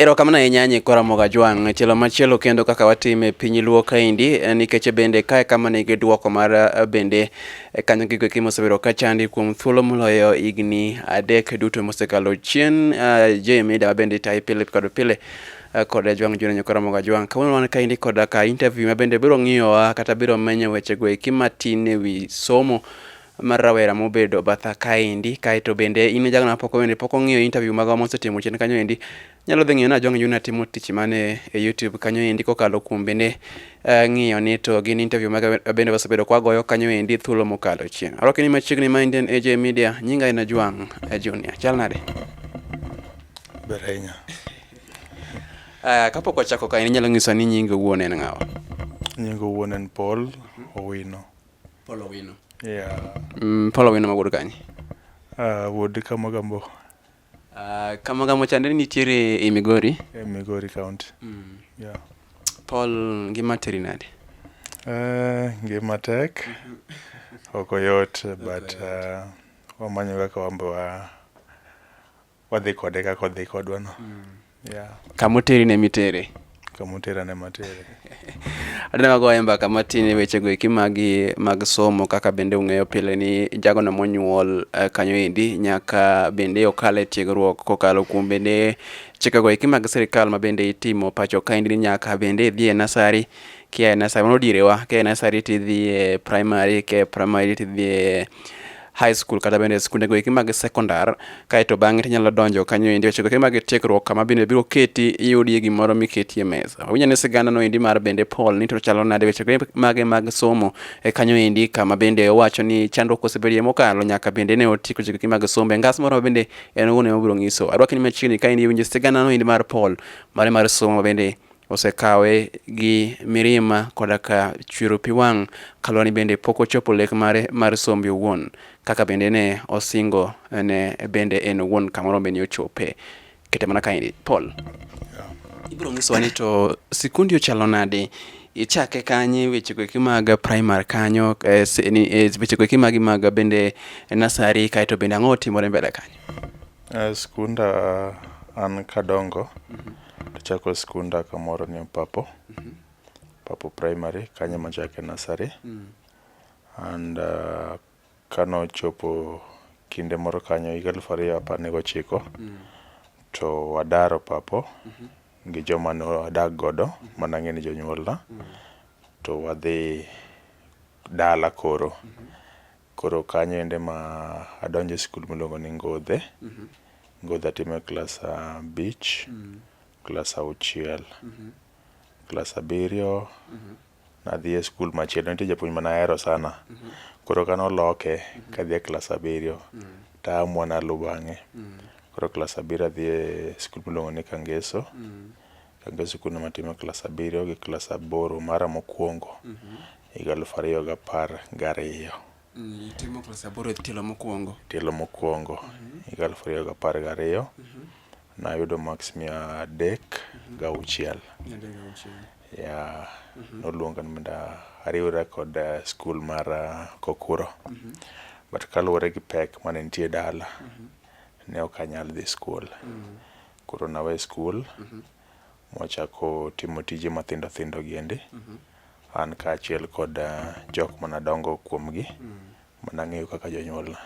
Erokamano ahinya nyikwa Ramogi Ajwang'. Tielo machielo kendo kaka watimo e piny luo kaendi eh, nikech e bende kae kama nigi dwoko mar eh, bende eh, kanyo gigo eki mosebedo ka chandi kuom thuolo moloyo higni adek duto mosekalo chien. Je mida mabende itayi pile kod pile kod Ajwang' Junior Nyikwa Ramogi Ajwang'. Kawuono wan kaendi kod ka interview mabende biro ng'iyowa kata biro menyo wechego eki matin e wi somo Mar rawera mobedo batha kaendi, kae to bende in e jalno mapok bende pok ong'iyo interview maga mosetimo chien kanyo endi, nyalo dhi ng'iyo ni Ajong' Junior timo tich mane e YouTube kanyo endi kokalo kuom bende uh, ng'iyo ni to gin interview maga bende wasebedo kwagoyo kanyo endi thuolo mokalo chien. Arwaki ni machiegni ma Indian AJ Media, nyinga en Ajwang' eh, Junior. Chal nade? Ber ahinya. Uh, kapok wachako kae, inyalo nyiso ni nyinga wuon en ng'awa? Nyinga wuon en Paul Owino. Paul Owino. Yeah. Mm, Paul Owino ma wuod kanye? Uh, wuod Kamagambo. Uh, Kamagambo chande nitiere e Migori? E Migori County. Mm. Yeah. Paul ngima teri nade? Uh, ngima tek. ok oyot but uh, wamanyo kaka wambe wa wadhi kode kaka odhi kodwa no mm. yeah. kamoteri ne mitere kamotera ne matere adina magoye mbaka matin e wechego eki mag mag somo kaka bende ung'eyo pile ni jagono monyuol uh, kanyo endi nyaka bende okal e tiegruok kokalo kuom bende chikego eki mag sirikal ma bende itimo pacho kaendi ni nyaka bende idhi e nasari kia e nasari mano direwa kia e nasari tidhi e primary kia e primary tidhi e high school kata bende skunde goeki mag sekondar kaeto bang'e tinyalo donjo kanyo endi weche goeki mag tiegruok kama bende biro keti iyudie gimoro miketie mesa wawinya ni sigana no endi mar bende Paul ni to chalo nade weche goeki mage mag somo e kanyo endi kama bende owacho ni chandruok osebedie mokalo nyaka bende ne otieko weche goeki mag somo e ngas moro bende en owuon ema obiro nyiso arwaki ni machiegni ka endi iwinjo sigana no endi mar Paul mare mar somo bende osekawe gi mirima koda ka chwero pi wang' kaluwore ni bende pok ochopo lek mare mar sombe owuon kaka bende ne osingo ne bende en owuon kamoro bende ochope kete mana kaendi Paul ibro nyisowa ni to sikundi ochalo nade ichake kanye weche goeki mag primary kanyo eh, eh, weche goeki magi mag bende nasari kaeto bende ang'o otimore mbele kanyo Eh, skunda an kadongo tachako skunda kamoro ni Papo, Papo Primary, kanyo ema achake nasari. And uh, kanochopo kinde moro kanyo higa alufu ariyo apar ni gochiko to wadaro Papo gi joma ne wadak godo mana ang'e ni jonyuolna to wadhi dala koro. Koro kanyo ende ma adonjo e skul miluongo ni Ngodhe. Ngodhe atimo e klas abich, klas auchiel. Klas abiriyo nadhi e skul machielo, nitie japuonj mane ahero sana. Koro kane oloke kadhi e klas abiriyo, to a amua naluw bang'e. Koro klas abiriyo adhi e skul miluongo ni Kangeso. Chakre sikundno matime klas abiriyo gi klas aboro mara mokwongo mhm. higa aluf ariyo gapar gariyo. Mm, itimo klas aboro e tielo mokwongo? Tielo mokwongo mhm. higa aluf ariyo gapar gariyo mhm. nayudo maks mia adek gauchiel. Ya, noluonga ni mondo ariwra kod eh, skul mar eh, Kokuro. But kaluwore gi pek mane nitie dala, ne ok anyal dhi skul. Koro nawe skul mwachako timo tije mathindo thindo giendi an kaachiel kod ah, jok manadongo kuomgi manang'eyo kaka jonyuolna.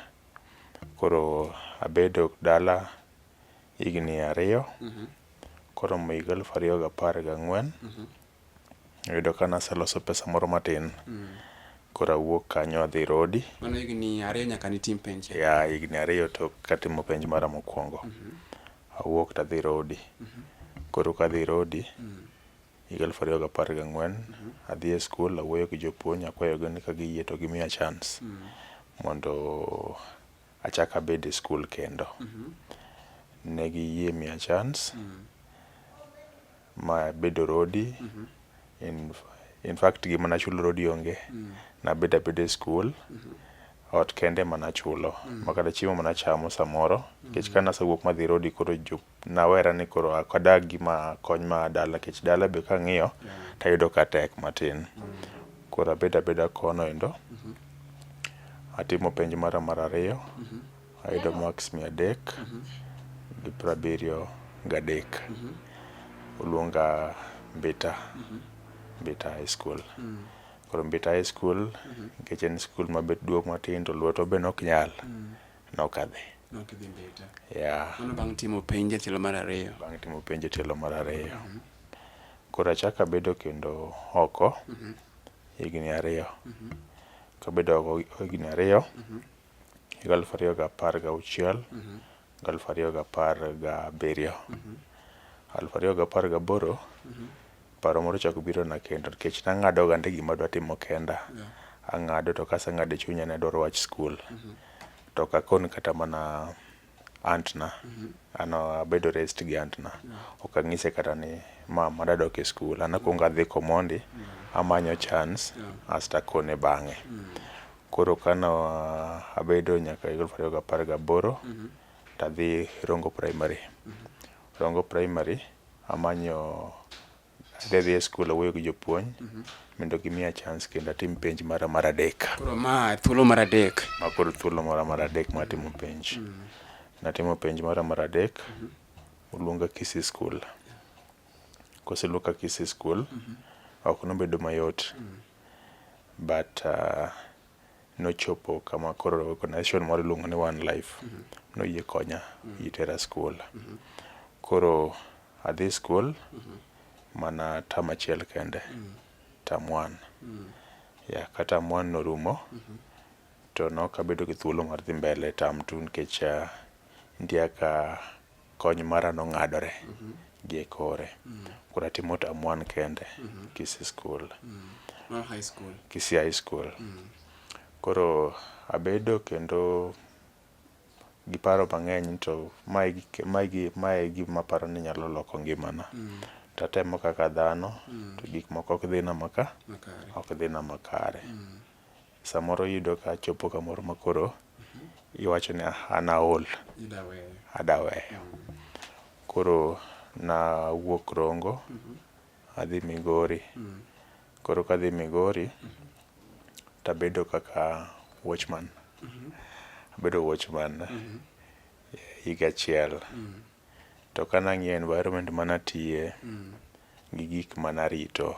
Koro abedo dala higni ariyo koromo higa aluf ariyo gapar gang'wen Noyudo ka naseloso pesa moro matin. Koro awuok kanyo adhi Rodi. Mano higni ariyo nyaka nitim penj. Ya, higni ariyo tok katimo penj mara mokwongo. Awuok tadhi Rodi. Koro kadhi Rodi, higa aluf ariyo gapar gang'wen, adhi e skul awuoyo gi jopuonj akwayogi ni ka giyie to gimiya chance mondo achak abed e skul kendo. Ne giyie miya chance. Ma bedo rodi. Mm -hmm. In, in fact gima nachulo rodi onge. Mm -hmm. Nabedo abeda e skul. Mm -hmm ot kende mana chulo mm. makata chiemo mana chamo samoro nikech mm. ka nasewuok madhi rodi koro jup nawera ni koro akadag gima kony ma dala nikech dala be kang'iyo mm. tayudo ka tek matin mm. koro abeda abeda kono endo mm -hmm. atimo penj mara mar ariyo mm -hmm. Ayudo marks mia adek mhm. gi piero abiriyo gadek. Mhm. Oluonga Mbita, mhm. Mbita High School. Mm. Koro Mbita High School nikech en skul mabet duong' matin to lweto be nok nyal, mm. nokadhi. Bang' timo penj e tielo mar ariyo. Bang' timo penj e tielo mar ariyo. Koro achako abedo kendo oko higni ariyo. Kabedo oko higni ariyo, higa aluf ariyo ga apar ga auchiel gi aluf ariyo ga apar ga abiriyo. Aluf ariyo ga apar ga aboro, paro moro ochako biro na kendo nikech nang'ado gande gima adwa timo kenda. Ang'ado to kaseng'ado e chunya ni adwaro wach skul, to ok akon kata mana antna mhm. an abedo rest gi antna mhm. ok ang'ise kata ni mama dadok e skul an akwongo adhi komondi mhm. amanyo chance asto akone bang'e koro kano abedo nyaka higa aluf ariyo gapar gaboro tadhi rongo primary rongo primary amanyo adhi dhi e skul awuoyo gi jopuonj mhm. mondo gimiya chance kendo atim penj mara mar adek. Koro ma thuolo mar adek. Ma koro thuolo mara mar adek ma atimo penj. Mhm. Natimo penj mara mar adek, mhm. oluonga Kisii School. Koseluonga Kisii School, ok nobedo mayot. But uh, nochopo kama koro organization moro iluongo ni One Life noyie konya itera school. Koro Adhi skul mm -hmm. mana tam achiel kende mm -hmm. tam one mm -hmm. ya ka tam one norumo mm -hmm. to nok abedo gi thuolo mar dhi mbele tam two nikech uh, nitie ka kony mara nong'adore mm -hmm. gi e kore mm -hmm. koro atimo tam one kende mm -hmm. kisi skul mm -hmm. high school kisi high school mm -hmm. koro abedo kendo gi paro mang'eny to mae e gima aparo ni nyalo loko ngimana. Mm. To atemo kaka dhano mm. to gik moko ok dhina maka, ok dhina makare. Mm. Samoro iyudo ka achopo kamoro makoro mm-hmm. iwacho ni an aol, adaweyo. Koro nawuok Rongo mm-hmm. adhi Migori. Koro kadhi Migori tabedo kaka watchman. Abedo watchman higa achiel. To kanang'iyo environment manatiye gi gik manarito,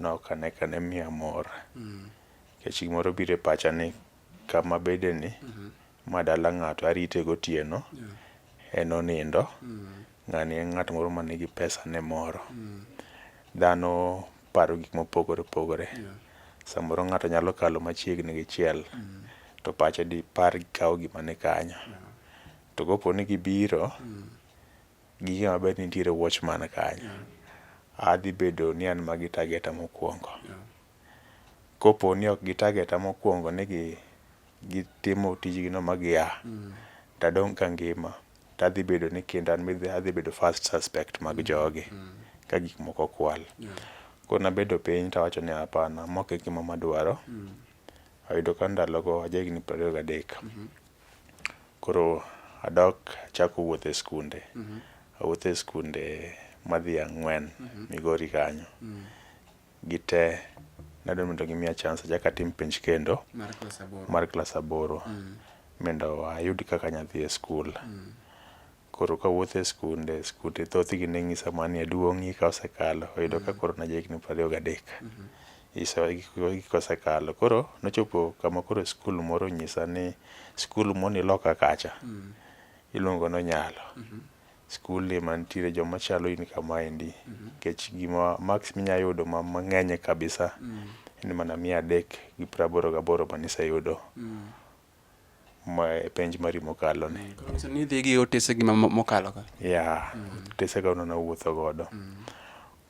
nok ane kane miya mor. Nikech gimoro bire pacha ni kama abede ni ma dala ng'ato arite gotieno en onindo. Ng'ani en ng'at moro ma nigi pesane moro. Dhano paro gik mopogore opogore. Samoro ng'ato nyalo kalo machiegni gi chiel to pache dipar kawo gima ni kanyo. To kopo ni gibiro, ging'e maber ni nitiere watchman kanyo. A dhi bedo ni an magi to ageta mokwongo. kopo ni ok gi target a mokuongo ni gitimo tijgi no ma gia to adong' ka angima to adhi bedo ni kinda adhi bedo first suspect mag jogi ka gik moko kwal. Koro nabedo piny to awacho ni hapana ma ok e gima madwaro. Ayudo ka ndalogo aja higni piero ariyo gadek. Koro adok achako wuotho e skunde. Awuotho e skunde madhi ang'wen Migori kanyo. gite nadwa mondo gimiya chance achak atim penj kendo mar klas aboro mm. mondo ayud kaka anyalo dhi e skul mm. koro kawuoth e skunde skunde thothgi ne ng'isa mani aduong'i ka osekalo oyudo ka mm. koro naja higni prariyo gadek mm-hmm. gik osekalo koro nochopo kama koro skul moro nyisa ni skul moni loka kacha iluongo nonyalo mm-hmm. skul ema nitiere joma chalo in kamaendi nikech gima max minya yudo ma mang'eny kabisa en mana mia adek gi praboro gaboro ma niseyudo ma e penj mari mokalo ni Nyiso ni idhi gi otese gi ma- ma- mokalo ka. ya otesega ono nawuotho godo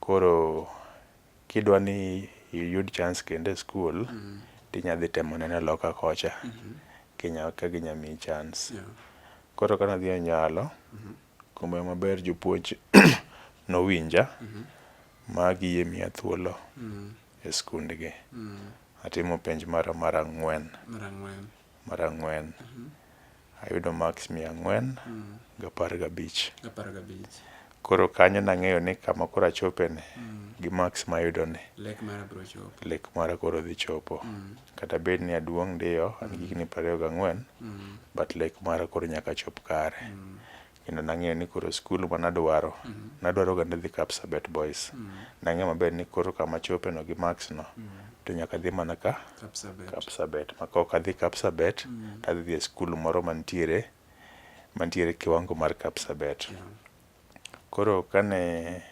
koro Kidwa ni iyud chance kendo e skul, tinya dhi temo neno loka kocha kinya ka ginya miyi chance. Koro ka nadhi e nyalo, kumae maber jopuonj nowinja ma giyie miya thuolo e skundgi. Atimo penj mara mar ang'wen. Mar ang'wen ayudo marks mia ang'wen gapar gabich. Apar gabich. Koro kanyo nang'eyo ni kama koro achopeni gi marks mayudoni, Lek mara biro chopo. lek mara koro dhi chopo. Kata bed ni aduong' ndiyo, an gi higni prariyo gang'wen, but lek mara koro nyaka chop kare. you know, nang'eyo ni koro skul ma nadwaro mm -hmm. nadwaro ga ni dhi Kapsabet Boys mm -hmm. nang'eyo maber ni koro kama chope no gi Max no mm -hmm. to nyaka dhi mana ka Kapsabet, Kapsabet. ma kaok adhi Kapsabet mm -hmm. tadhi dhi e skul moro mantiere mantiere kiwango mar Kapsabet yeah. koro kane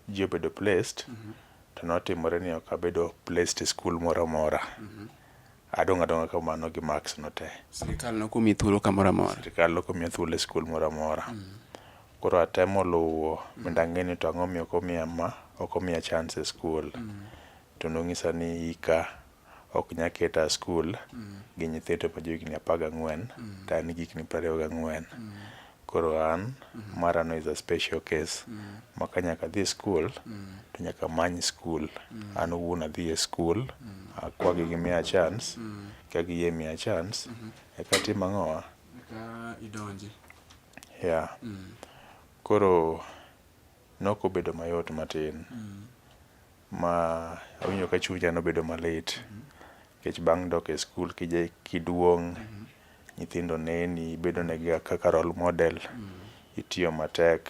ji obedo placed mm -hmm. to notimore ni ok abedo placed e skul moro amora mm -hmm. adong' adong'a kamano gi marks no te sirikal nokomi thuolo kamoro amora sirikal nokomi thuolo e skul moro amora mm -hmm. koro atemo luwo mm -hmm. mondo ang'e ni to ang'o miyo okomiya ma okomiya chance e skul mm -hmm. to nong'isa ni ika ok nya keta a skul gi nyithindo ma johigni apar gang'wen to an gi higni prariyo gang'wen koro an marano is a special case ma ka nyaka adhi skul to nyaka amany skul an owuon adhi e skul akwagi gimiya chance ka giyie miya chance eka atim ang'owa yeah koro Nok obedo mayot matin ma awinjo ka chunya nobedo malit nikech bang' dok e skul kiduong' nyithindo neni, ibedonegiga kaka role model, itiyo matek,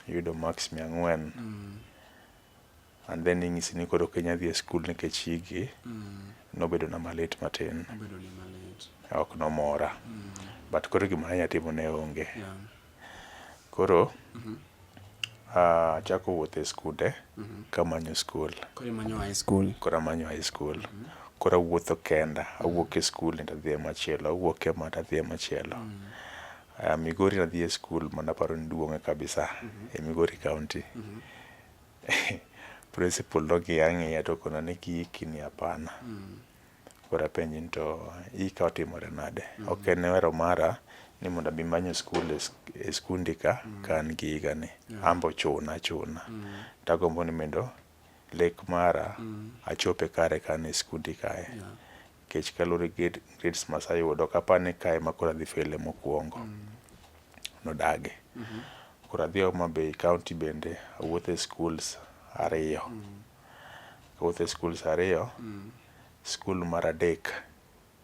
iyudo maks mia ang'wen. and then inyisi ni koro Kenya dhi e skul nikech igi mm. nobedo na malit matin ok nomora mm. but koro gima nanya timo ne onge yeah. koro mm -hmm. Uh, achako wuoth e skunde mm -hmm. kamanyo skul koro amanyo high school koro amanyo high school mm -hmm. koro awuotho kenda awuok e skul nenda dhi e machielo awuok e mata dhi e machielo mm -hmm. Uh, Migori nadhi e skul mana paro ni duong'e kabisa mm -hmm. e Migori County mm -hmm. Principal nong'iya ang'iya to okona ni kiiki ni hapana. Mm. Koro apenje ni to ika otimore nade? Mm. Ok en wero mara ni mondo abi manyo skul e, e skundi ka mm. ka an gi higa ni. Yeah. Ambo chuna chuna. Mm. Tagombo ni mendo lek mara mm. achope kare ka an e skundi kae. Yeah. Kech kalure gi grades ma aseyudo ok apar ni kae ema koro adhi fele mokwongo. Mm. Nodage. Mm -hmm. Koro adhi Homa Bay County bende awuotho e schools ariyo. Mm. Awuotho e schools ariyo. Mm. School mar adek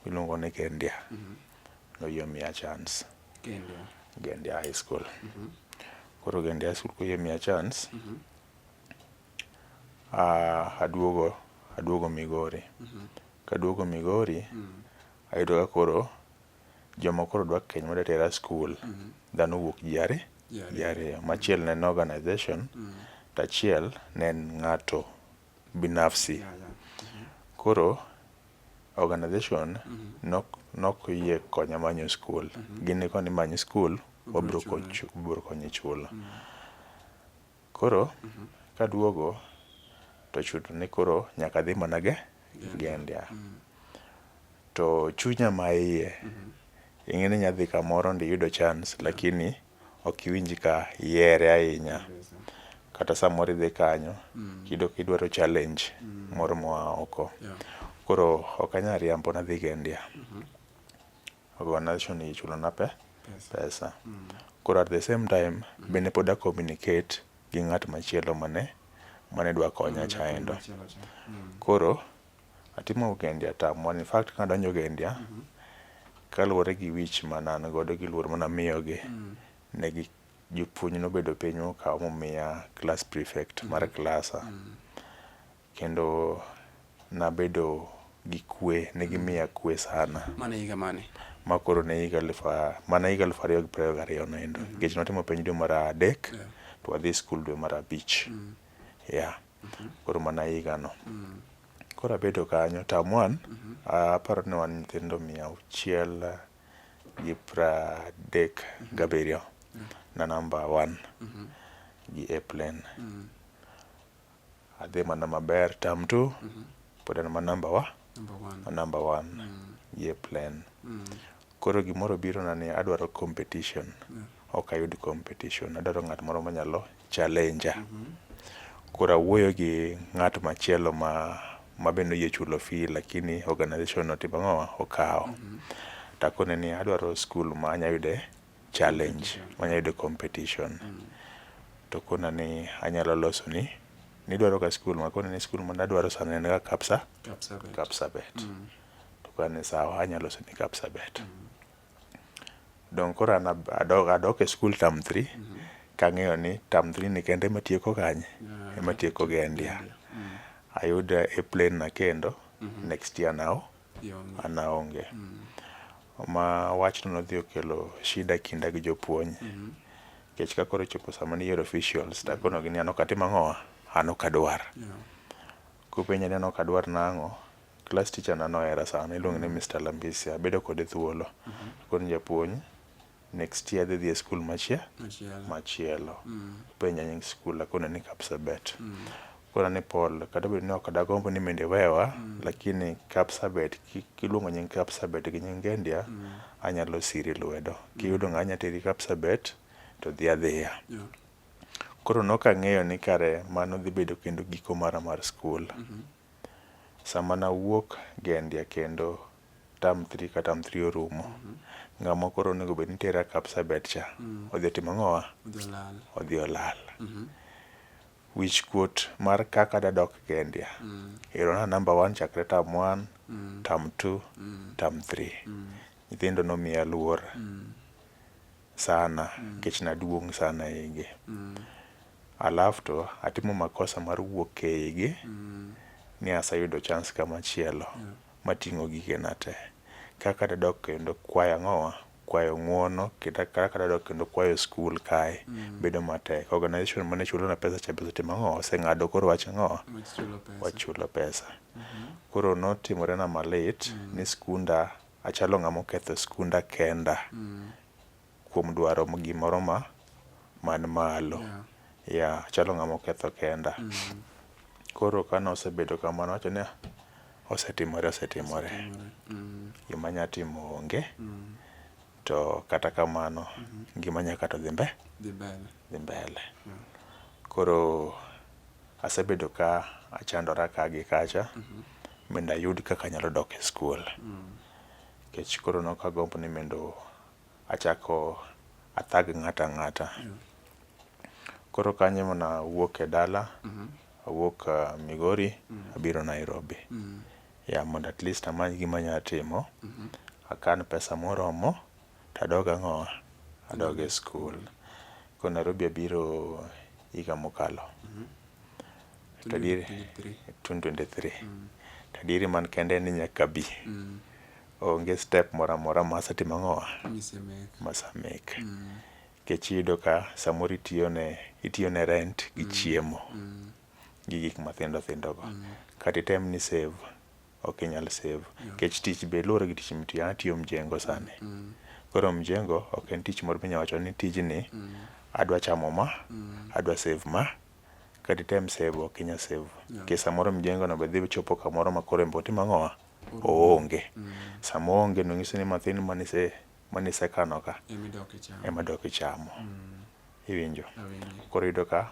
miluongo ni Kendia. Mm -hmm. Noyie miya chance. Kendia. Gendia High School. Mm -hmm. Koro Gendia High School koyie miya chance. Mm -hmm. Ah, aduogo, aduogo Migori. Kaduogo Migori, ayudo ka koro joma koro dwa keny madwa tera skul, dhano owuok ji ari, Ji ariyo. ji ariyo. Machiel ne en organization, to achiel ne en ng'ato binafsi. Ya, ya. Koro organization nok nok oyie konya manyo skul. Gin ne koni many skul, wabro Obro kochu- wabro konyi chulo. Koro kaduogo to chuno ni koro nyaka adhi mana gi gendia. To chunya ma iye, ing'e ni inya dhi kamoro mondo iyud chance lakini ok iwinj ka ihere ahinya. Kata samoro idhi kanyo iyudo ka idwaro challenge moro moa oko. Koro ok anya riambo nadhi gendia. organization ichulo na pe pesa mm. koro at the same time mm. bende pod a communicate gi ng'at machielo mane mane dwa konya mm, chaendo mm. koro atimo ugendi atamwa in fact ka adonjo ugendi mm -hmm. kaluwore gi wich ma nan godo gi luor mana miyogi mm. ne gi jopuonj nobedo piny okawo momiya class prefect mm. mar klasa mm. Kendo nabedo gi kwe, ne gimiya kwe sana. Mano e higa mane? Ma koro ne higa aluf mana higa aluf ariyo gi piero ariyo gariyo no endo. Nikech mm-hmm. notimo penj dwe mar adek, to wadhi skul dwe mar abich. Mm. Yeah. Mm-hmm. Koro mana higa no. Mm. Koro abedo kanyo, tam wan, mm-hmm. aparo ni wan nyithindo mia auchiel gi pra adek gabiriyo na namba one gi airplane. Adhi mana maber term two pod an ma number wa, Number one. ma number one ye plan. Koro gimoro biro na ni adwaro competition. Ok ayud competition, adwaro ng'at moro manyalo challenger. Koro awuoyo gi ng'at machielo ma ma bende oyie chulo fee lakini organization no otimo ang'owa, okawo. Takone ni adwaro skul ma anya yude challenge manya yudo competition mm. to kona ni anyalo loso ni nidwaro ka skul ma kona ni skul ma nadwaro sana en ga kapsa kapsa bet mm. to kona ni sawa anyalo loso ni kapsa bet mm. donc koro an adok, adok e skul tam 3 mm -hmm. kang'eyo ni tam 3 ni kende ema tieko kanye yeah, ema tieko gi endia mm. ayuda e plan na kendo mm -hmm. next year now an aonge. Ma wachno nodhi okelo shida e kinda gi jopuonj nikech ka koro ochopo sama niyiero officials to akonogi ni an ok atim ang'owa, an ok adwar. Kopenja ni an ok adwar nang'o, klas ticha na nohera sana, iluonge ni Mister Lambisia, abedo kode thuolo. Akone ni japuonj, next year adhi dhi e skul machielo machielo mm. penja nying skul akona ni Kapsabet mm. kona ni Paul kata bed ni ok adagombo ni mende wewa mm. lakini Kapsabet kiluongo nying Kapsabet gi nying Ngendia mm. anyalo siri lwedo mm. kiyudo ng'a anya teri Kapsabet to dhi adhiya yeah. koro nok ang'eyo ni kare mano dhi bedo kendo giko mara mar skul mm -hmm. Sama nawuok gendia kendo term three ka term three orumo, ng'ama koro onego bed ni tera Kapsabet cha, odhi otimo ang'owa? Odhi olal. Wich kuot mar kaka dadok gendia, ero na number one chakre term one, term two, term three. Nyithindo nomiya luor. sana nikech naduong' sana eigi. Alafu to atimo makosa mar wuok eigi ni aseyudo chance kamachielo mating'o gigena te. Kaka dadok kendo kwayo ang'owa, kwayo ng'uono kendo kaka dadok kendo kwayo skul kae bedo matek. Organization mane chulona pesa cha be osetimo ang'owa, oseng'ado koro wach ang'owa, wach chulo pesa. Koro notimorena malit ni skunda Achalo ng'ama oketho skunda kenda mm. kuom dwaro gimoro ma man malo. Yeah. Yeah, achalo ng'ama oketho kenda. Mm. Koro kane osebedo kamano wacho ni osetimore osetimore. Mm. Gima nya timo onge. Mm. To kata kamano mm -hmm. ngima nya kata dhi mbe dhi mbele. Dhi mbele. Yeah. Koro Asebedo ka achandora ka gi kacha mm-hmm. mondo ayud kaka anyalo dok e skul nikech mm. koro nok agombo ni mondo achako athag ng'ata ng'ata mm. koro kanyo mana awuok e dala mm-hmm. awuok uh, Migori mm. abiro Nairobi ya mondo at least amany gima anyalo timo mm-hmm. akan pesa moromo to adog ango, adog e skul. Koro Nairobi abiro higa mokalo to adieri, twenty twenty three, to adieri man kende en ni nyaka abi, onge step moro amora ma asetimo ango, ma ase make nikech iyudo ka samoro itiyo ne, itiyo ne rent gi chiemo gi gik mathindo thindo go kata item ni i save ok inyal save nikech tich be luwore gi tich mitiyo. An atiyo mjengo sani, mm. koro mjengo ok en tich moro minyalo wacho ni tijni mm. adwa chamo ma, mm. adwa save ma kata item save ok inyal save nikech samoro mjengono be dhi chopo kamoro ma koro embe otimo ang'owa oonge. Sama oonge no nyiso ni mathin manisekano ka ema dok ichamo, iwinjo? Koro iyudo ka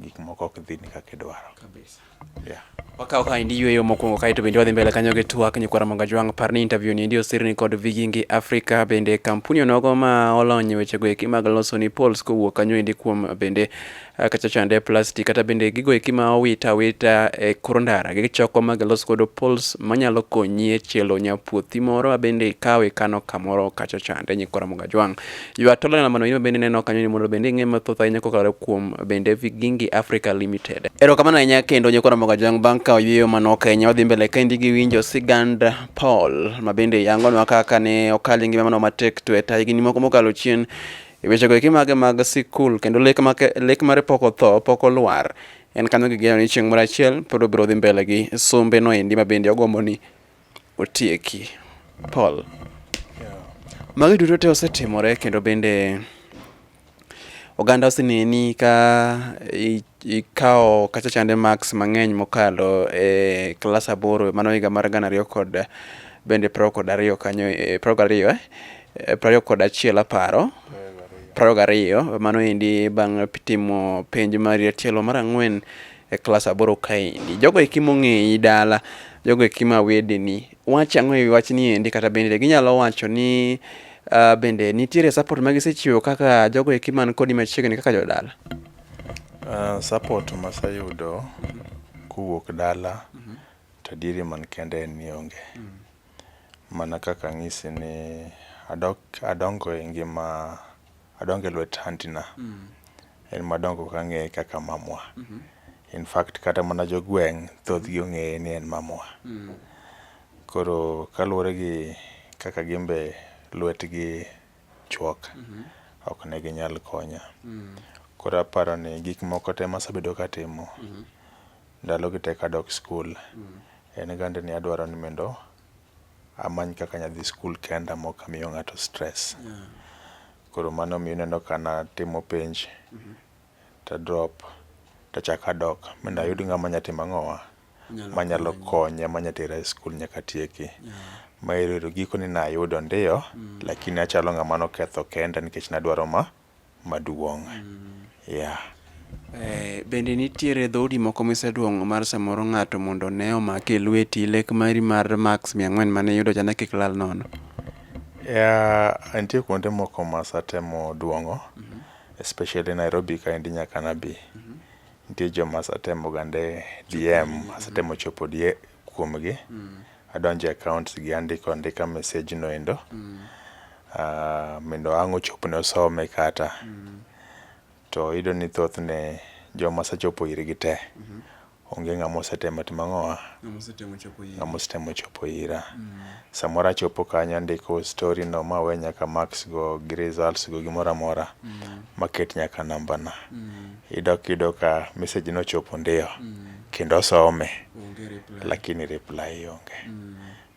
gik moko ok dhi ni kaka idwaro kabisa yeah wakawo ka endi yweyo mokwongo kae to bende wadhi mbele kanyo gi twak nyikwara mangajwang' par ni interview ni endi osirni kod vigingi africa bende kampuni onogo ma olony e wechego eki mag loso ni pols kowuok kanyo endi kuom bende ah, kacha chande plastic kata bende gigo eki ma owita awita e kor ndara gichoko ma gilos godo pols manyalo konyi e chielo nyapuothi moro ma bende ikawo ikano kamoro kacha chande nyikwara mangajwang' Ywa tolo na mano yima bende neno kanyo ni mondo bende ing'e mathoth ahinya kokalo kuom bende Vigingi Africa Limited. Erokamano ahinya kendo nyikora moga jang bang' ka oyweyo mano Kenya wadhi mbele ka indi gi winjo sigand Paul ma bende yangonwa kaka ne okal ngima mano matek to e ta higni moko mokalo chien e wechego eki mage mag sikul kendo lek, make, lek mare pok otho pok olwar en kanyo gi geno ni chieng' moro achiel pod obiro dhi mbele gi sombe no endi ma bende ogombo ni otieki. Paul. Magi duto te osetimore kendo bende oganda oseneni ka ikawo kacha chande marks mang'eny mokalo e klas aboro mano higa mar gana ariyo kod bende prariyo kod ariyo kanyo e, prariyo kod ariyo eh? e, prariyo kod achiel aparo prariyo gariyo mano endi bang' timo penj mari tielo mar ang'wen e klas aboro kaendi. Jogo eki mong'eyi dala, jogo eki ma wedeni, wach ang'o e wach ni endi kata bende ginyalo wacho ni uh, bende nitiere support ma gisechiwo kaka jogo eki man kodi machiegni kaka jodala? Uh, support masayudo kowuok dala mm -hmm. to adieri man kende en ni onge. Mm -hmm mana kaka ang'isi ni adongo e ngima Adonge lwet aunty na. Mm. En madongo kang'eye kaka mamwa. Mm -hmm. In fact kata mana jogweng' thothgi ong'eye ni en mamwa. Mm. Koro kaluwore gi kaka gimbe lwetgi chuok, mm -hmm. ok ne ginyal konya. Mm. Koro aparo ni gik moko te masabedo katimo, mm -hmm. ndalogi te kadok skul, mm. en gande ni adwaro ni mendo amany kaka anyalo dhi skul kenda ma ok amiyo ng'ato stress. Koro mano omiyo ineno ka natimo penj to a drop to achako adok mondo ayud ng'ama nyalo timo ang'owa manyalo konya manyalo tera e skul nyaka atieki. Gikone ne ayudo ndio lakini achalo ng'ama ne oketho kenda nikech ne adwaro ma maduong'. Yeah. Eh, bende nitiere dhoudi moko miseduong'o mar samoro ng'ato mondo ne omake e lweti lek mari mar max mia ang'wen mane iyudo cha ne kik lal nono Yeah, nitie kuonde moko ma satemo duong'o especially Nairobi kaendi nyaka nabi. Nitie joma asetemo gande DM, asetemo chopo die- kuomgi mm. adonjo e accounts gi andiko andika message no endo mm. uh, mondo ang' ochopne osome kata mm. to iyudo ni thothne joma asechopo irgi te mm -hmm. onge ng'ama osetemo timo ang'owa ng'ama osetemo chopo ira mm. samoro achopo kanyo andiko story no ma we nyaka marks go gi results go gimoro amora mm. maket nyaka nambana mm. idok iyudo ka message nochopo ndio mm. kendo some lakini reply onge.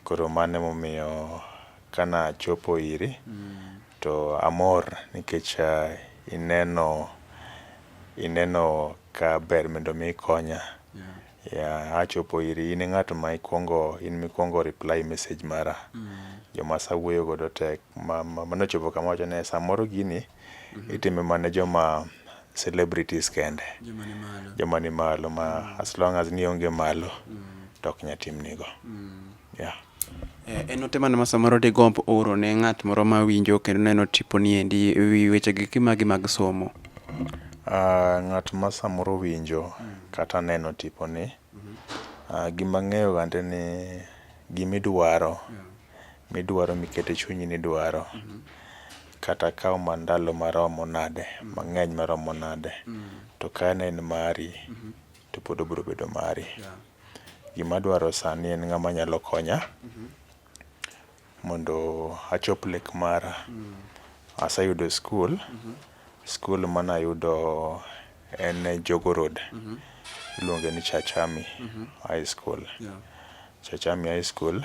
Koro mano emomiyo kana chopo iri to amor nikech ineno ineno ka ber mondo mi ikonya. Yeah, achopo iri in e ng'at ma ikwongo in mikwongo reply message mara. Joma asawuoyo godo te manochopo kama wacho ni samoro gini itime mana ne joma celebrities kende joma ni malo ma mm. as long as ni onge malo mm. to ok nya timnigo mm. yeah. Eh, en ote mane ma samoro digomb oro ne ng'at moro ma winjo kendo neno tipo ni endi e wi wechegi kimagi mag somo uh, ng'at ma samoro winjo mm. kata neno tipo ni mm -hmm. uh, ah, gima ng'eyo gande ni gimidwaro yeah. midwaro mikete chunyi ni dwaro mm -hmm. kata kawo ma ndalo maromo nade, mang'eny maromo nade, to ka ne en mari, to pod obiro bedo mari. Gima adwaro sani en ng'ama nyalo konya mondo achop lek mara. Aseyudo skul, skul mane ayudo en Jogoo Road, iluonge ni Church Army High School. Church Army High School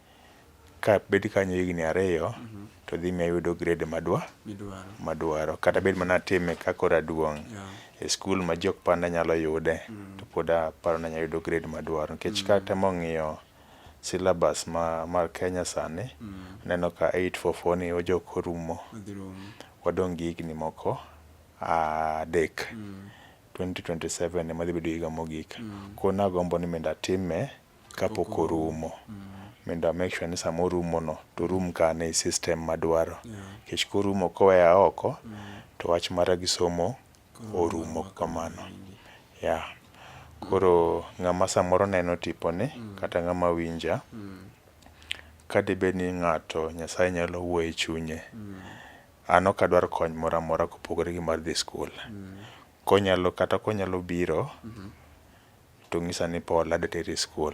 Kabet kanyo higni ariyo to dhi miyo ayudo grade madwa madwaro kata bed mana atime ka koro aduong' e skul ma jii ok par ni anyalo yude to pod aparo ni anya yudo grade madwaro nikech katemo ng'iyo syllabus ma mar Kenya sani aneno ka eight four four ni ojok orumo wadong' gi higni moko adek twenty twenty seven ema dhi bedo higa mogik koro nagombo ni mondo atime kapok orumo mondo make sure ni sama orumo no to orum kane e system madwaro nikech korumo koweya oko to wach mara gi somo orumo kamano. Yeah. Koro ng'ama samoro neno tiponi kata ng'ama winja, kadibed ni ng'ato Nyasaye nyalo wuoyo e chunye, an ok adwar kony moro amora kopogore gi mar dhi skul. Konyalo kata konyalo biro to ng'isa ni Paul adwa teri e skul.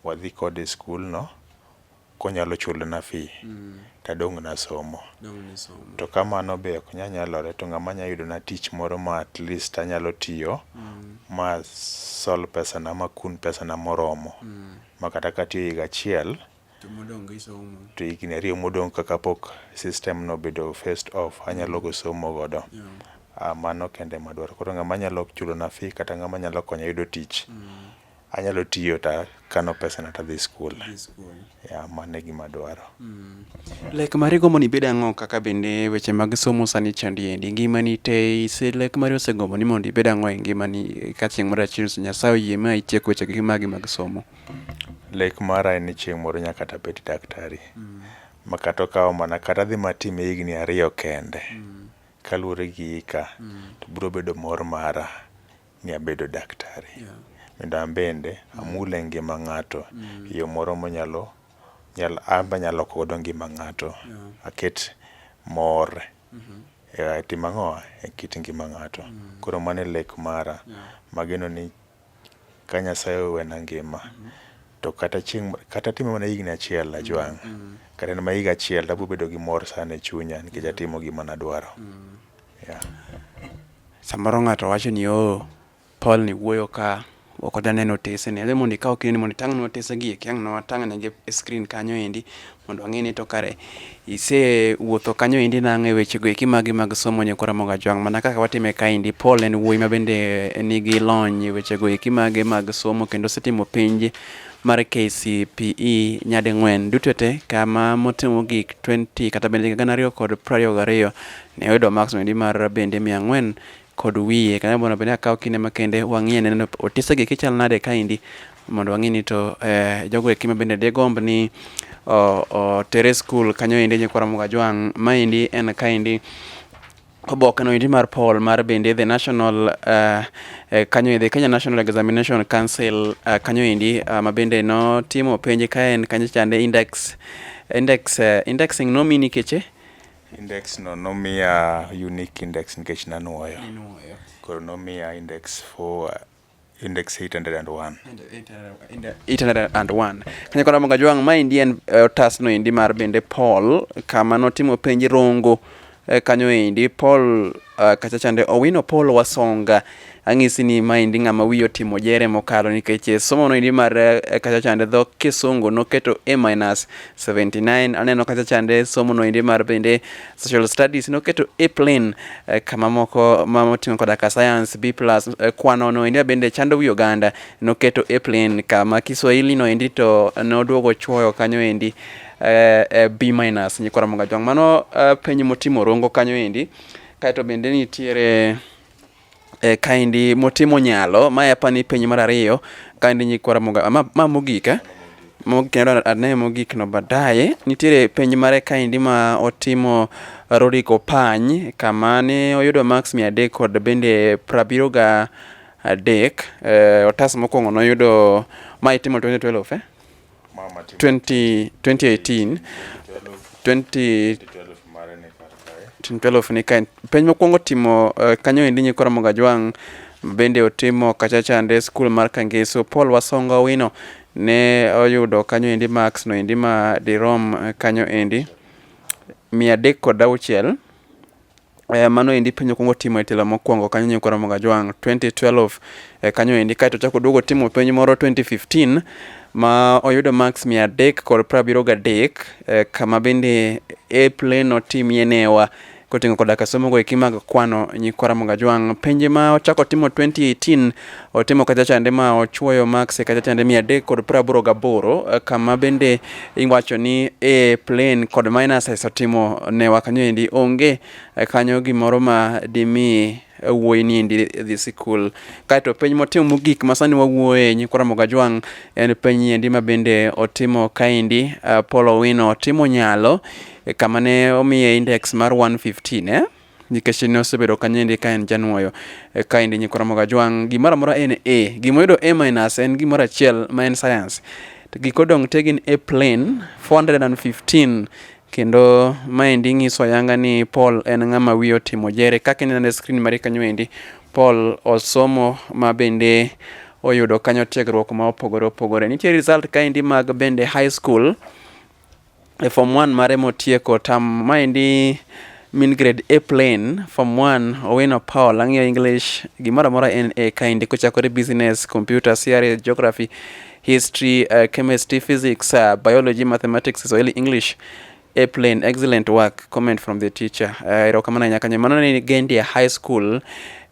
Wadhi kode e skulno konyalo chulona fee to adong' nasomo. To ka mano be ok nyal nyalore to ng'ama nyalo yudona tich moro ma at least anyalo tiyo ma sol pesana, ma kun pesana moromo ma kata katiyo higa achiel to higni ariyo modong' kaka pok system no bedo first off anyalo go somo godo yeah. Ah, mano kende madwaro koro ng'ama nyalo chulona fee kata ng'ama nyalo konya yudo tich mm. anyalo tiyo ta kano pesana tadhi skul ya mano e gima dwaro mm. lek mari gombo ni ibed ang'o kaka bende weche mag somo sani chandi endi ngimani te ise lek mari osegombo ni mondo ibed ang'o e ngimani ka chieng' moro achiel nyasaye oyie ma itiek wechegi magi mag somo Lek mara en ni chieng' moro anya kata bedo daktari ma kata okawo mana kata adhi mana time higni ariyo kende kaluwore gi hika to biro bedo mor mara ni abedo daktari mondo an bende amul e ngima ng'ato e yo moro manyalo an be anyalo loko godo ngima ng'ato aket mor e tim ang'owa? E kit ngima ng'ato. Koro mano e lek mara mageno ni ka Nyasaye owena ngima to kata chieng' kata atimo mana higni achiel ajwang', kata en mana higa achiel to abiro bedo gi mor sana e chunya nikech atimo gima ne adwaro. Yeah. Samoro ng'ato wacho ni oo, Paul ni wuoyo ka, ok odwa neno otesene. Adwaro mondo ikaw kindeni mondo itang'nwa otesegi eki, ang' nwatang'negi e screen kanyo endi mondo ang'e ni to kare isewuotho kanyo endi nang'o e wechego eki magi mag somo Nyako Ramogi Ajwang' mana kaka watime kaendi. Paul en wuoyi ma bende nigi lony e wechego eki mage mag somo kendo osetimo penj mar KCPE nyading'wen duto te kama motimo gik 20 kata bende gana ariyo kod prariyo gariyo ne oyudo marks endi mar bende mia ang'wen kod wiye kanyo mondo bende akaw kinde makende wang'iye neno otisegi kichal nade kaendi mondo wang'e ni to eh, jogo eki ma bende digomb ni otere skul kanyo endi nyikwara Mugajwang' maendi en kaendi oboke no endi mar poll mar bende the national uh, uh, kanyo endi Kenya National Examination Council uh, kanyo endi uh, ma bende notimo penj kaen kanyo chande index index uh, indexing nomini keche Index no nomiya unique index nikech nanuoyo. Inuoyo. Koro nomiya index for index 801. 801 kanya kora monga jwang ma indi en eh, otas no indi mar bende paul kama notimo penj rongo eh, kanyo endi paul eh, kachachande owino paul wasonga Ang'isi ni maendi ng'ama wiye otimo jere mokalo nikech eh, somo noendi mar eh, kacha chande dho kisungu noketo a minus 79 aneno kacha chande somo noendi mar bende social studies noketo a plane eh, kama moko ma moting'o koda ka science b plus eh, kwano noendi bende chando wi oganda noketo a plane kama kiswahili noendi to noduogo chuoyo kanyo endi eh, eh, b minus nyikwara mongajwang' mano eh, penj motimo rongo kanyo endi kaeto bende nitiere eh, kaindi motimo nyalo ma apani penjo mar ariyo kaindi nyikwara moga ma, ma mogika eh? kendo ane mogik no baadaye nitiere penj mare kaindi ma otimo Rudi Kopany kama ne oyudo max mia adek kod bende prabiro ga adek eh, otas mokwongo noyudo ma itimo 2012 eh? 20, 2018 20, 2012 ni kaen penj mokwongo timo uh, kanyo endi nyikora mogajwang' bende otimo kachachande skul mar kangeso paul wasonga owino ne oyudo kanyo endi max no endi ma dirom eh, kanyo endi mia adek kod auchiel Eh, mano endi penjo kuongo timo e telo mokwongo kanyo nyo kora moga jwang 2012 eh, kanyo endi kae to chako duogo timo penjo moro 2015 ma oyudo max 300 kod 73 eh, kama bende e plane otimie newa koting'o koda ka somogo eki mag kwano nyikwara Mugajwang'. Penje ma ochako timo 2018 otimo kachachande ma ochuoyo max e kachachande mia adek kod praboro gaboro eh, kama bende iwacho ni e plane kod minuses otimo ne wakanyo endi onge eh, kanyo gimoro ma dimi wuoyi ni endi dhi sikul kaeto penj motimo mogik ma sani wawuoye nyikwara mogajwang' en penj endi ma bende otimo kaendi uh, eh, polo wino otimo nyalo kama ne omiye index mar 115 eh? nikech ne osebedo kanyendi ka en janwoyo eh, kaendi nyikoromo gajwang' gimoro amora en a gimoyudo a minus en gimoro achiel ma en science giko dong te gin a plane 415 kendo maendi nyiso ayanga ni paul en ng'ama wiye otimo jere kaka ineno e screen mari kanyo endi paul osomo ma bende oyudo kanyo tiegruok ma opogore opogore nitie result kaendi mag bende high school e form 1 mare motieko tam maendi min grade A plain form 1 Owino Paul ang'iyo English gimoro amora en A kaendi kochakore business, computer, CRE, geography, history, uh, chemistry, physics, uh, biology, mathematics, Swahili, English A plain excellent work comment from the teacher uh, erokamano ahinya kanyo mano ni Gendia High School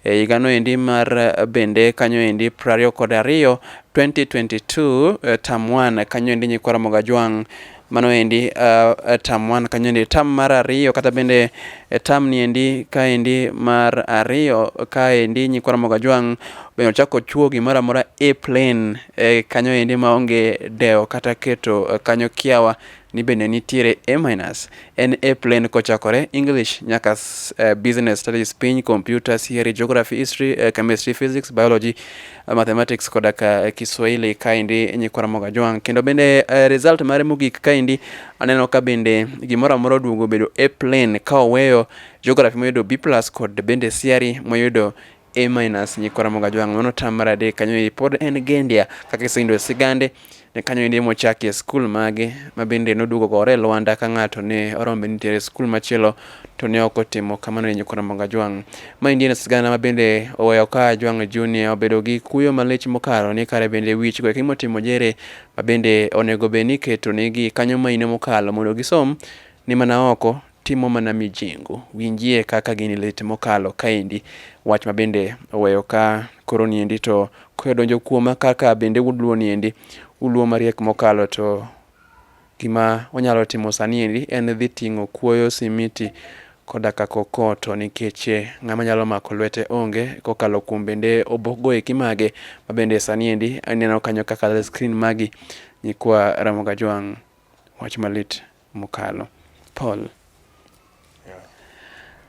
E higa noendi mar bende kanyoendi prariyo kod ariyo 2022 eh, tam wan kanyoendi nyikwa Ramogi Ajwang' mano endi uh, tam wan kanyoendi tam mar ariyo kata bende eh, tam niendi kaendi mar ariyo kaendi nyikwa Ramogi Ajwang' bende ochako chuo gimoro amora e plane eh, kanyoendi maonge dewo kata keto eh, kanyo kiawa ni bende nitiere A-, en A plane kochakore English nyaka uh, business studies piny computer theory geography history uh, chemistry physics biology uh, mathematics koda ka uh, Kiswahili kaendi nyikwara moga jwang kendo bende uh, result mare mogik kaendi aneno ka bende gimoro amora oduogo bedo A plane ka oweyo geography moyudo B+ kod bende theory moyudo A minus nyikwa Ramogi Ajwang' mano tam mar adek kanyo eri pod en Gendia kaka iseyudo e sigande ne kanyo eri mochakie skul mage ma bende noduogo gore e Lwanda ka ng'ato ne oromo bende nitiere skul machielo to ne ok otimo kamano ne nyikwa Ramogi Ajwang'. Ma endi en sigana ma bende oweyo ka Ajwang' Junior obedo gi kuyo malich mokalo ni kare bende wich go eki motimo jere ma bende onego bed ni iketo negi kanyo maino mokalo mondo gisom ni mana oko timo mana mijingu. Winjie kaka gini lit mokalo kaendi, wach ma bende oweyo ka koro niendi to koyo donjo kuoma kaka bende uluo niendi, uluo mariek mokalo to gima onyalo timo sani endi en dhi ting'o kuoyo simiti koda ka kokoto nikech eh, ng'ama nyalo mako lwete onge kokalo kuom bende obokgo eki mage ma bende sani endi aneno kanyo kaka screen magi nyikwa Ramogi Ajwang' wach malit. mokalo. Paul. Yeah.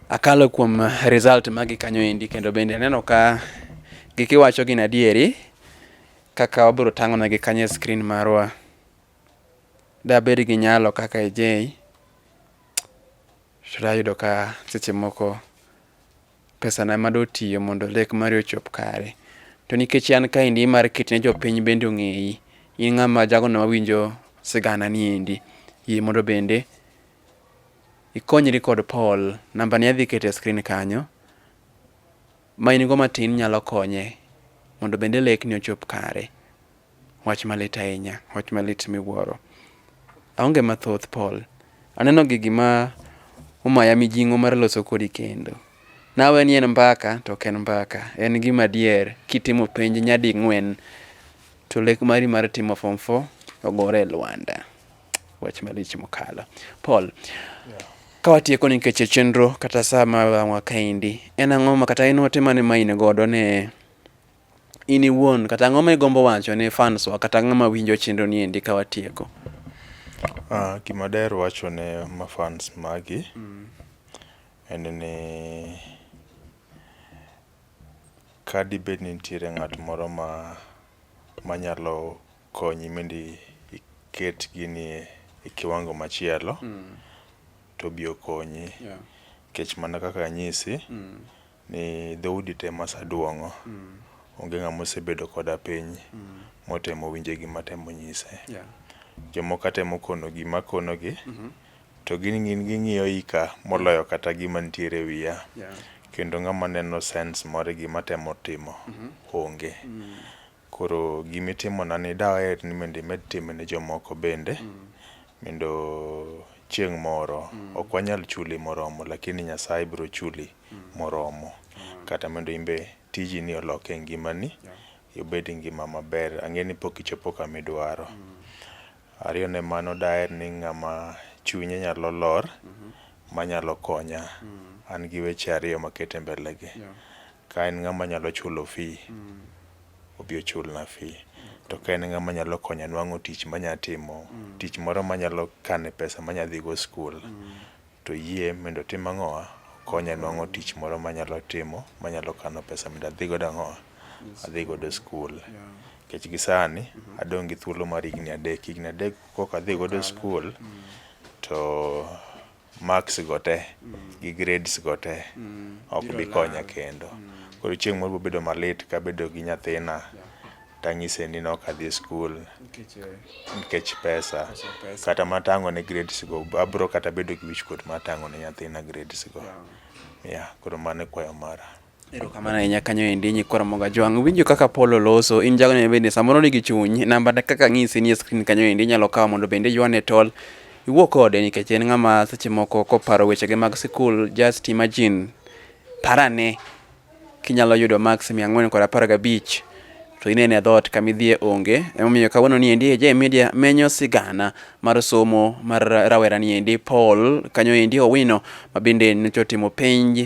Akalo kuom result magi kanyo endi kendo bende aneno ka gikiwacho gin adieri kaka wabiro tang'onegi kanyo e screen marwa. Dabed gi nyalo kaka ejei to dayudo ka seche moko Pesana ma dotiyo mondo lek mari ochop kare. To nikech an kaendi imar keti ne jopiny bende ong'eyi. In ng'ama jagono mawinjo sigana ni endi. Yie mondo bende ikonyri kod Paul. Namba ni adhi kete e screen kanyo. Ma in go matin nyalo konye mondo bende lek ni ochop kare. Wach malit ahinya, wach malit miwuoro. Aonge mathoth Paul. Aneno gi gima omaya mijing'o mar loso kodi kendo. Nawe ni en mbaka to ok en mbaka. En gima dier kitimo penj nyadi ng'wen to lek mari mar timo form 4 ogore e lwanda. Wach malich mokalo. Paul, yeah. ka watieko nikech e chenro kata saa ma wang'wa kaendi, en ang'o ma kata en ote mane ma in godo ne in iwuon kata ang'o ma igombo wacho ne fans wa kata ng'ama winjo chenro ni endi ka watieko? Ah, gima daher wacho ne ma fans magi mm. en ni ka dibed ni nitiere ng'at moro ma manyalo konyi mindi iket gini e kiwango machielo mm. to bi okonyi yeah. kech mana kaka anyisi mm. ni dhoudi te masaduong'o onge ng'ama osebedo koda piny motemo winje gima atemo nyise. Jomoko atemo kono gima akonogi to gin ging'iyo ika moloyo kata gima nitiere e wiya kendo ng'ama neno sense moro e gima atemo timo onge. Koro gima itimonani daher ni mondo imed time ne jomoko bende mondo chieng' moro, ok wanyal chuli moromo lakini Nyasaye biro chuli moromo kata mondo in be tijini olok e ngimani, ibed gi ngima maber. Ang'eyo ni pok ichopo kama idwaro. Ariyo ne mano daher ni ng'ama chunye nyalo lor manyalo konya. An gi weche ariyo makete mbele gi. Ka en ng'ama nyalo chulo fee, obi ochulna fee. To ka en ng'ama nyalo konya nwang'o tich manya timo, tich moro manyalo kane pesa manya dhigo skul. To iyie mendo otim ang'owa? Okonya nwang'o tich moro manyalo timo, manyalo kano pesa mendo adhi godo ang'owa? Adhi godo skul. Nikech gi sani mm-hmm. adong' gi thuolo mar higni adek. Higni adek koka adhi godo skul mm. to marks go te mm. gi grades go te mm. ok bi konya kendo. Koro chieng' moro bobedo malit kabedo gi nyathina. tanyise ni nok adhi skul nikech eh, pesa kata matang'o ne grades go abro kata bedo gi wichkuot matang'o ne nyathina grades go ya koro mano e kwayo mara erokamano ahinya kanyo endi nyikora moga jwang' winjo kaka polo loso in jago ne bende samoro nigi chuny namba kaka ng'isi ni e screen kanyo endi inyalo kawo mondo bende ywane tol iwuo kode nikech en ng'ama seche moko koparo wechege mag sikul just imagine parane Kinyalo yudo max 415 to inene dhoot kama idhiye onge. Emomiyo kawuono ni endi AJ Media menyo sigana mar somo mar rawera ni endi Paul kanyo endi Owino ma bende nyocha otimo penj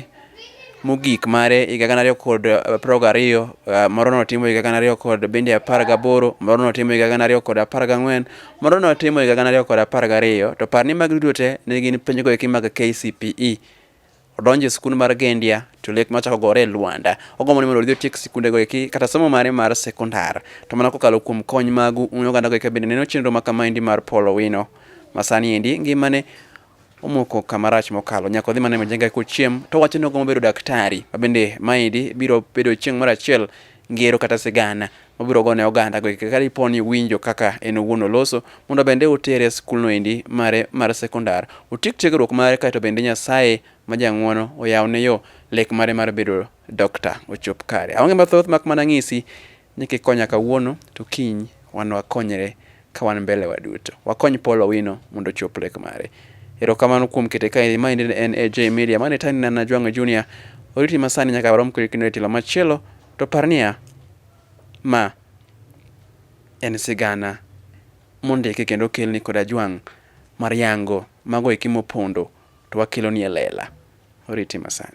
mogik mare higa gana ariyo kod eh, apar gariyo eh, moro notimo higa gana ariyo kod bende apar gaboro moro notimo higa gana ariyo kod apar gang'wen moro notimo higa gana ariyo kod apar gariyo to par ni magi duto te ne gin penjgo eki mag KCPE odonjo e sikund mar Gendia to lek machako gore e Luanda. Ogombo ni mondo odhi otiek sikundego eki kata somo mare mar sekondar. To mana kokalo kuom kony magu un ogandago eka bende neno chenro ma kamaendi mar Paul Owino. Masani endi ngimane omoko kama rach mokalo nyaka odhi mana e majenga kochiem to wacho ni ogombo bedo daktari ma bende maendi biro bedo chieng' moro achiel ngero kata sigana mobiro gone oganda go ka dipo ni winjo kaka en owuon oloso mondo bende utere e skulno endi mare mar sekondar otiek tiegruok mare kaeto bende Nyasaye ma jang'wono oyawne yo lek mare mar bedo dokta ochop kare. Aonge mathoth mak mana ng'isi ni kikonya kawuono to kiny wan wakonyre ka wan mbele waduto. Wakony Paul Owino mondo ochop lek mare. Erokamano kuom kete kaeri. Maendi ne en AJ Media. Mane tani ne an Najwang'o Junior. Oriti masani nyaka warom kodi kendo e tielo machielo to par niya ma en sigana mondiki kendo okelni kod Ajwang' mar yango mago eki mopondo to wakeloni e lela. Oriti masani.